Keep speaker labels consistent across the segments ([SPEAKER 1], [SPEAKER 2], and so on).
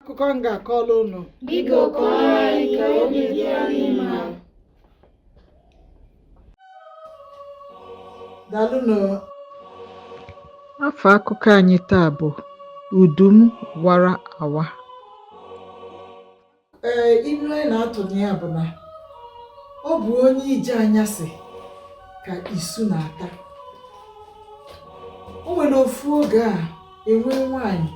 [SPEAKER 1] akụkọ
[SPEAKER 2] m ga-akọrọ unu Biko
[SPEAKER 1] kọọrọ anyị ka obi dị anyị
[SPEAKER 2] mma. daalụnụ afa akụkọ anyị taa bụ udu m wara awa ee ilu anyị na-atụ na ya bụ na ọ bụ onye ije anyasị ka isu na-ata o nwere ofu oge a e nwee nwaanyị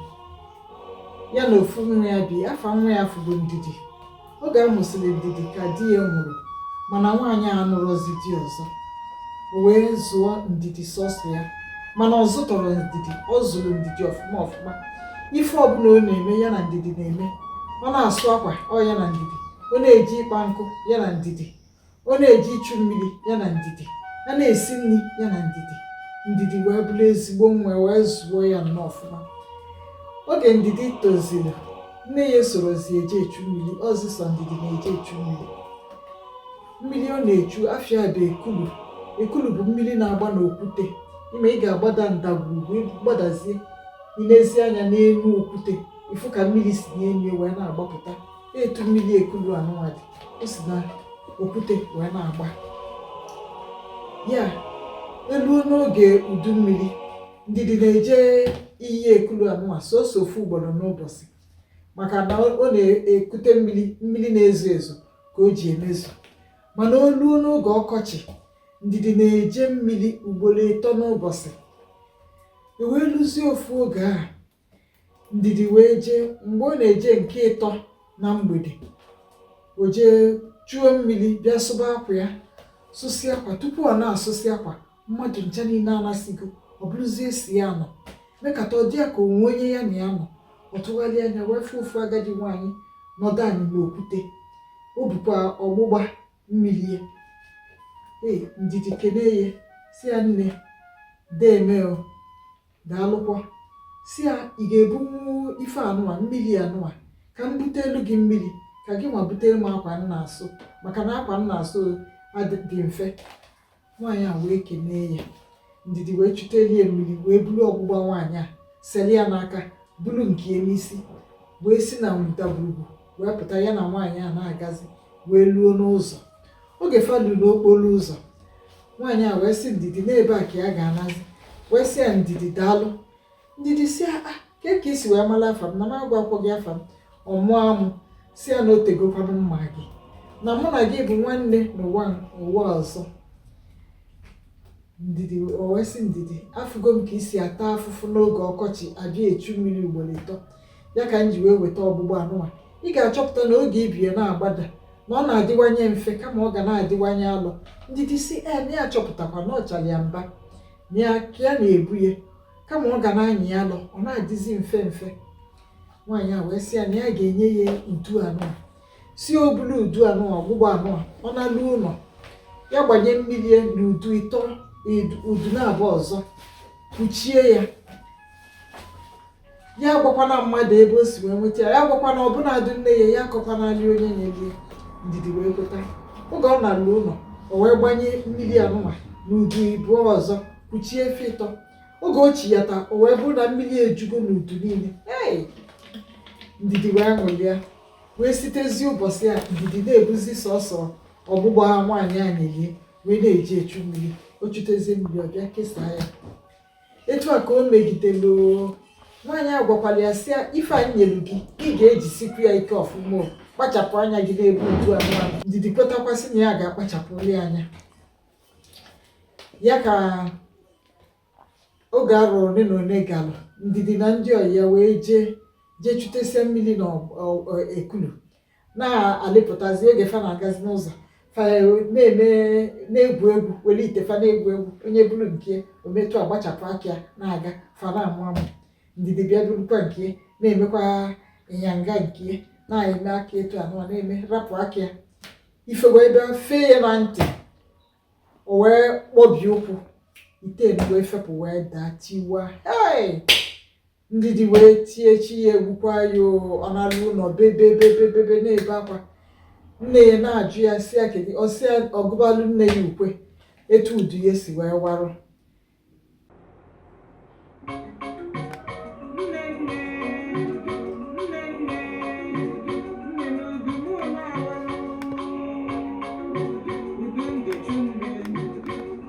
[SPEAKER 2] ya na ofu nwa ya bi afa nwa ya bụrụ ndidi oge a mụsịrị ndidi ka di ya nwụrụ mana nwaanyị a anụrọzi di ọzọ o wee zụọ ndidi sọsọ ya mana ọ zụtọrọ ndidi ọ zụrụ ndidi ọfụma ọfụma ife ọbụla ọ na-eme ya na ndidi na-eme ọ na-asụ akwa ọ ya na ndidi ọ na-eje ịkpa nkụ ya na ndidi ọ na-eje ichu mmiri ya na ndidi a na-esi nri ya na ndidi ndidi wee bụrụ ezigbo nwa wee zụọ ya nnọọ ọfụma oge ndidi toziri nne ya esorozi eje echu mmiri ọ zị sọ ndidi na-eje echu mmiri mmiri ọ na-echu afa ya bụ ekulu ekulu bụ mmiri na-agba n'okwute ime ị ga-agbada ndagwurugwu gbadazie i nezie anya n'elu okwute ị fụ ka mmiri si n'elu wee na-agbapụta etu mmiri ekulu anụnwa dị o si na okwute wee na-agba ya eluo n'oge udu mmiri ndidi na-eje iyi ekulu anụnwa sọsọ ofu ugboro n'ụbọchị maka na ọ na-ekute mmiri mmiri na-ezo ezo ka o ji emezu mana o luo n'oge ọkọchị ndidi na-eje mmiri ugboro ịtọ n'ụbọchị e wee luzie ofu oge a ndidi wee jee mgbe ọ na-eje nke ịtọ na mgbede o jee chuo mmiri bịa sụba akwa ya sụsị akwa tupu ọ na-asụsị akwa mmadụ ncha niile anasịgo ọ bụrụzie sọ ya nọ mekata ọ dị ya ka o nwe onye ya na ya nọ ọ tụgharịa anya wee fụ ofu agadi nwaanyị nọdụ anị n'okwute o bukwa ọgbụgba mmiri ya ee ndidi kenee ya sị ya nne deeme o daalụkwa sị ya ị ga-ebunwu ife anụwa mmiri anụwa ka m butelu gị mmiri ka gị nwa butelu m akwa m na-asụ maka na akwa m na-asụ dị mfe nwaanyị a wee kenee ya ndidi wee chutelu ya mmiri wee buru ọgbụgba nwaanyị a seli ya n'aka buru nke ya n'isi wee si na ndagwurugwu wee pụta ya na nwaanyị a na-agazi wee luo n'ụzọ oge fa lu n'okporo ụzọ nwaanyị a wee sị ndidi na ebe a ka ya ga-anazi wee sị ya ndidi daalụ ndidi sị ya ah, kee ka i si wee mara afa m na m agwa akwọ gị afa m ọ mụọ amụ sị ya na o tegokwanụ m ma gị na mụ na gị bụ nwanne n'ụwa ụwa ọzọ ndidi o wee sị ndidi afụgo m ka i si ata afụfụ n'oge ọkọchị abịa echu mmiri ugboro ịtọ ya ka m ji wee weta ọgbụgba anụnwa ị ga-achọpụta na oge i bu ya na-agbada na ọ na-adịwanye mfe kama ọ ga na-adịwanye alọ ndidi si na ya achọpụtakwa na ọchara ya mba ya ka ya na-ebu ya kama ọ ga na-anyị ya alọ ọ na-adịzi mfe mfe nwaanyị a wee sị ya na ya ga-enye ya udu anụnwa sị o bulu udu anụnwa ọgbụgba anụnwa ọ nalu ụnọ ya gbanye mmiri ya na udu ịtọ udu naabọ ọzọ kpuchie ya ya agwakwana mmadụ ebe o si wee nweta ya ya agwakwana ọbụnadị nne ya ya akọkwanali onye nyeli ya ndidi wee kweta oge ọ nalu ụnọ o wee gbanye mmiri anụnwa n'udu ịbụọ ọzọ kpuchie fa ịtọ oge o chiyata o wee bụrụ na mmiri ejugo n'udu niile ee ndidi wee ṅụlịa wee sitezi ụbọchị a ndidi na-ebuzi sọsọ ọgbụgba nwaanyị a nyeli ya wee na-eji echu mmiri o chutezie mmiri ọ bịa kesaa ya etu a ka o megidelu nwaanyị a gwakwara ya sị ife anyị nyelu gị ị ga-ejisikwu ya ike ọfụma kpachapụ anya gị n'ebe udu anụnwa ndidi kwetakwasị na ya ga-akpachapụli anya ya ka oge arọ one na one galụ ndidi na ndị ọyị ya wee jee jee chutesia mmiri na ekulu na-alịpụtazi oge fa na-agazi n'ụzọ fa na-eme na-egwu egwu were ite fa na-egwu egwu onye buru nke o metụ agbachapụ aka ya na-aga fa na-amụ amụ ndidi bịa burukwa nke na-emekwa ịnyanga nke na-eme aka etu anụnwa na-eme rapụ aka ya ife wee bịa fee ya na ntị o wee kpọbie ụkwụ ite wee fepụ wee daa tiwa hei ndidi wee tie chi ya egbukwa ya ọ nalu ụnọ bebe bebe bebe na-ebe akwa nne ya na-ajụ ya si ya kedu ọ sị ya ọ gụbalụ nne ya ukwe etu udu ya si wee warụ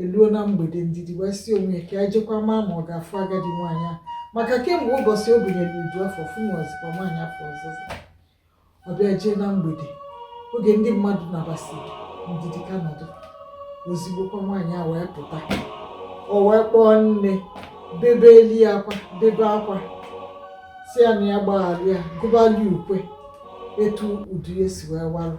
[SPEAKER 2] eluo na mgbede ndidi wee si onwe ya ka ya jekwa maa ma ọ ga-afụ agadi nwaanyị a maka kemgbe ụbọchị o bunyere udu afụ ọ fụnwazikwa nwaanyị afụ ọzọzọ ọ bịa jee na mgbede oge ndị mmadụ nabasịrị ndidi ka nọdụ ozigbokwa nwaanyị a wee pụta o wee kpọọ nne bebeli ya akwa bebe akwa si ya na ya gbaghalụ ya gụbali ukwe etu udu ya si wee warụ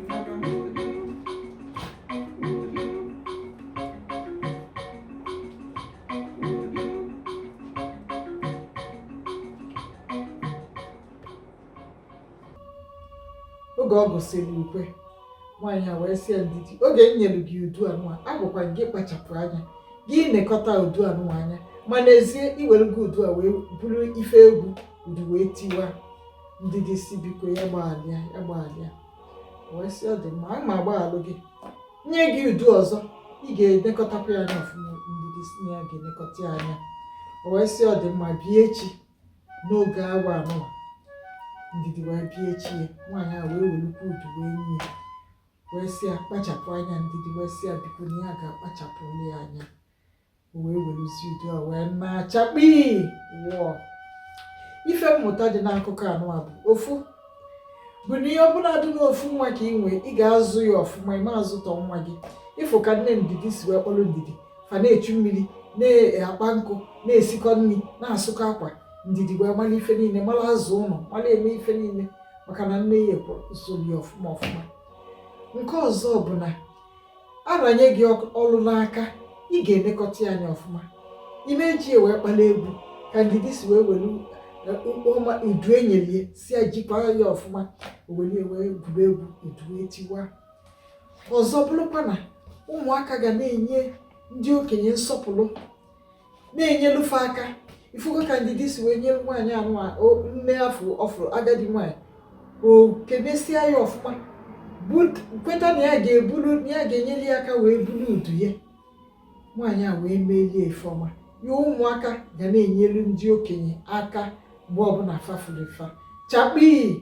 [SPEAKER 2] oge ọ gụsịrị ukwe nwaanyị a wee sị ya ndidi oge m nyere gị udu anụwa agwakwa gị kpachapụ anya gị nekọta udu anụwa anya ma n'ezie i were gị udu a wee bụrụ ife egwu udu wee tiwa ndidi sị biko ya gbaghalịa ya gbaghalịa wee sị ọ dị mma aga m agbaghalụ gị nye gị udu ọzọ ị ga-enekọtakwa ya anya ọfụma ndidi sị na ya ga-enekọta ya anya o wee sị ọ dị mma bịa echi n'oge awa anụwa ndidi wee bịa echi ya nwaanyị a wee welukwa udu wee nye ya wee sị ya kpachapụ anya ndidi wee sị ya biko na ya ga-akpachapụ ya anya o wee werezie udu a wee naa chakpii wọọ ife mmụta dị n'akụkọ anụwa bụ ofu bụ na ya bụladị n'ofu nwa ka ị nwee ị ga-azụ ya ọfụma ị ma azụtọ nwa gị ị fụ ka nne ndidi si wee kpọlụ ndidi fa na-echu mmiri na-akpa nkụ na-esikọ nni na-asụkọ akwa ndidi wee mara ife niile mara azụ ụlọ mara eme ife niile maka na nne ya ekworo usoro ya ọfụma ọfụma nke ọzọ bụ na a ranye gị ọlụ n'aka ị ga-enekọta ya anya ọfụma ị ma eji ya wee kpala egwu ka ndidi si wee welu ọma udu e nyelu ya sị ya jikwa ya ọfụma o welu ya wee gwuru egwu udu etiwa ọzọ bụrụkwa na ụmụaka ga na-enye ndị okenye nsọpụrụ na-enyelu fa aka ị fụgo ka ndidi si wee nyere nwaanyị anụwa nne afọ ọ fụrụ agadi nwaanyị o kenesịa ya ọfụma kweta na ya ga-ebulu na ya ga-enyelu ya aka wee bulu udu ya nwaanyị a wee meelu ya ife ọma ya ụmụaka ga na-enyelu ndị okenye aka mgbe ọbụla fa fụrụ fa chakpii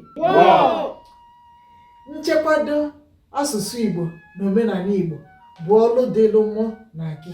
[SPEAKER 2] nchekwado Asụsụ Igbo na omenanị Igbo bụ ọlụ dịlụ mụ na gị.